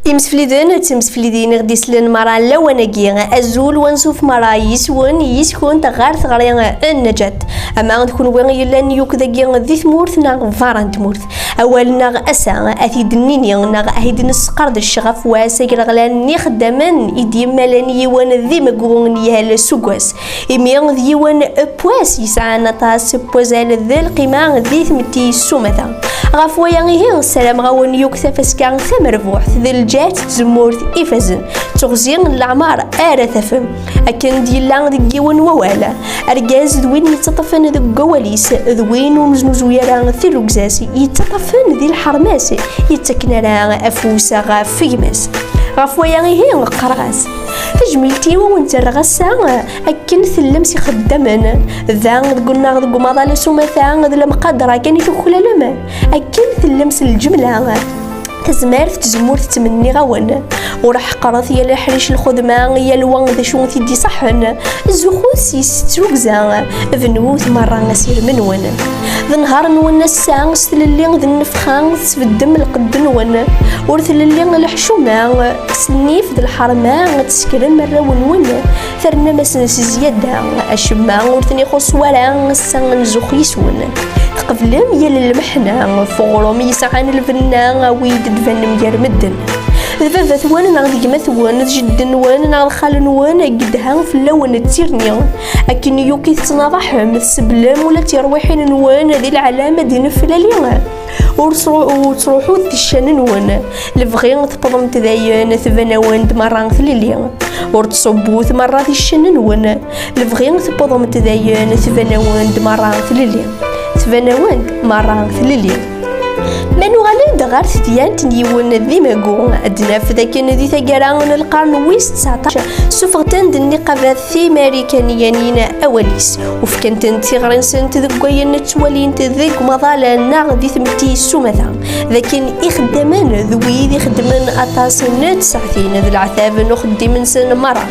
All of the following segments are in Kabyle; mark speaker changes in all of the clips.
Speaker 1: Imsefliden d temseflidin i ɣ-d-islen mara lawan-agi. Azul wansuf mara yis-wen, yis-kunt ɣer teɣri n Neǧat. Ama d kunwi i yellan yukk dagi di tmurt neɣ beṛṛa n tmurt. Awal-nneɣ ass-a ad t-id-nini neɣ ad t-id-nesqerdec ɣef wass agraɣlan n yixeddamen i d-yemmalen yiwen d imeggu n yal suggas. imi d yiwen pwas yesɛan aṭas n wazal d lqima di tmetti s umata ɣef waya ihi ssarameɣ awen yuki tafaska tamerbuḥt d lǧehd d tzemmurt ifazen d teɣzi n leɛmar ara tafem akken d-yella deg yiwen wawal argaz d win yettaṭṭafen deg wawal-is d win ur neznuzu ara tilugza-s yettaṭṭafen di lḥerma-s yettakken ara afus ɣef gma-s ɣef waya ihi qqareɣ-as tajmilt-iw ur wen-tterreɣ ass-a akken tellem s ixeddamen da deg unnaɣ deg umaḍal s umata d lemqadra kan i tuklalem akken tellem s lǧemla tazmert tzemmurt ttmenniɣ-awen ur ḥeqret yal aḥric lxedma yal wa d acu t-id-iṣaḥen zuxut s yessetrugza bnut merra asirem-nwen d nhaṛ-nwen ass-a s tlelli d nnefxa tesbeddem lqedd-nwen ur tlelli lḥecuma Aslif d lḥerma ad teskrem arraw-nwen, ternamasn s zzyada, acemma ur ten-ixuṣṣ wara ass-a n zuxx yis-wen. Tqeblem yal lmeḥna, f uɣrum yesɛan lbenna, awi-d d-banem gar medden. D baba-twen neɣ d gma-twen, d jeddi-nwen neɣ d xali-nwen, i yedhan fell-awen d tirni. Akken yuki tettnaḍaḥem, tseblem ula d tirwiḥin-nwen di leɛlam ad d-neflali. ur ttruḥu teccan-nwen lebɣi tewwḍemt dayen tban-awen-d merra tlelli ur tṣubbut merra ticcan-nwen lebɣi tewwḍemt dayen tban-awen-d merra tlelli tban-awen-d merra tlelli ma nuɣal-d ɣer tedyant n yiwen d imagu ad naf dakken di taggara n lqern wis 19 suffɣet-d nniqabat timarikaniyin awal-is u fkant-tent tiɣri-nsent deg wayen ttwalint deg umaḍal neɣ di tmetti s umata d akken ixeddamen d wid ixeddmen aṭas n tsaɛtin d leɛtab n uxeddim-nsen merra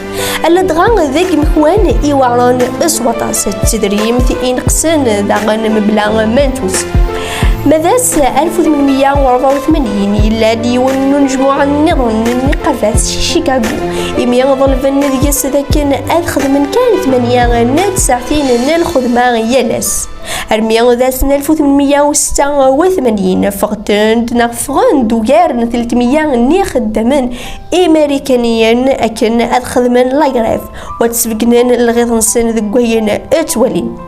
Speaker 1: ala dɣa d agmekwan iweɛren s waṭas d tedrimt ineqsen daɣen mebla ma ntus Ma d ass 1884 yella-d yiwen n unejmuɛ nniḍen n yiqerbat si Chicago imi ḍelben deg-s dakken ad xedmen kan tmanya n tsaɛtin n lxedma yal ass armi d ass n 1886 ffɣent-d neɣ ffɣen-d ugar n 300 n yixeddamen imarikaniyen akken ad xedmen lagrève u ad sbeggnen lɣiḍ-nsen deg wayen ttwalin.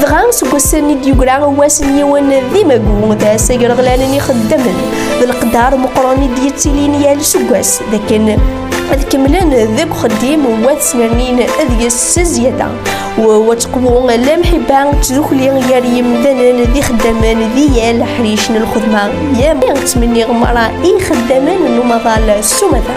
Speaker 1: dɣa seg wass-nni d-yugra wass n yiwen d imagu d ass agreɣlanen ixeddamen d leqdar meqqren i d-yettilin yal seg wass d akken ad kemmlen deg uxeddim wat snernin ad yes s zzyada wa tqwu la mḥibba tdukli gar yimdanen d ixeddamen d yal ḥric n lxedma yam ttmenniɣ mara i ixeddamen n umaḍal s umata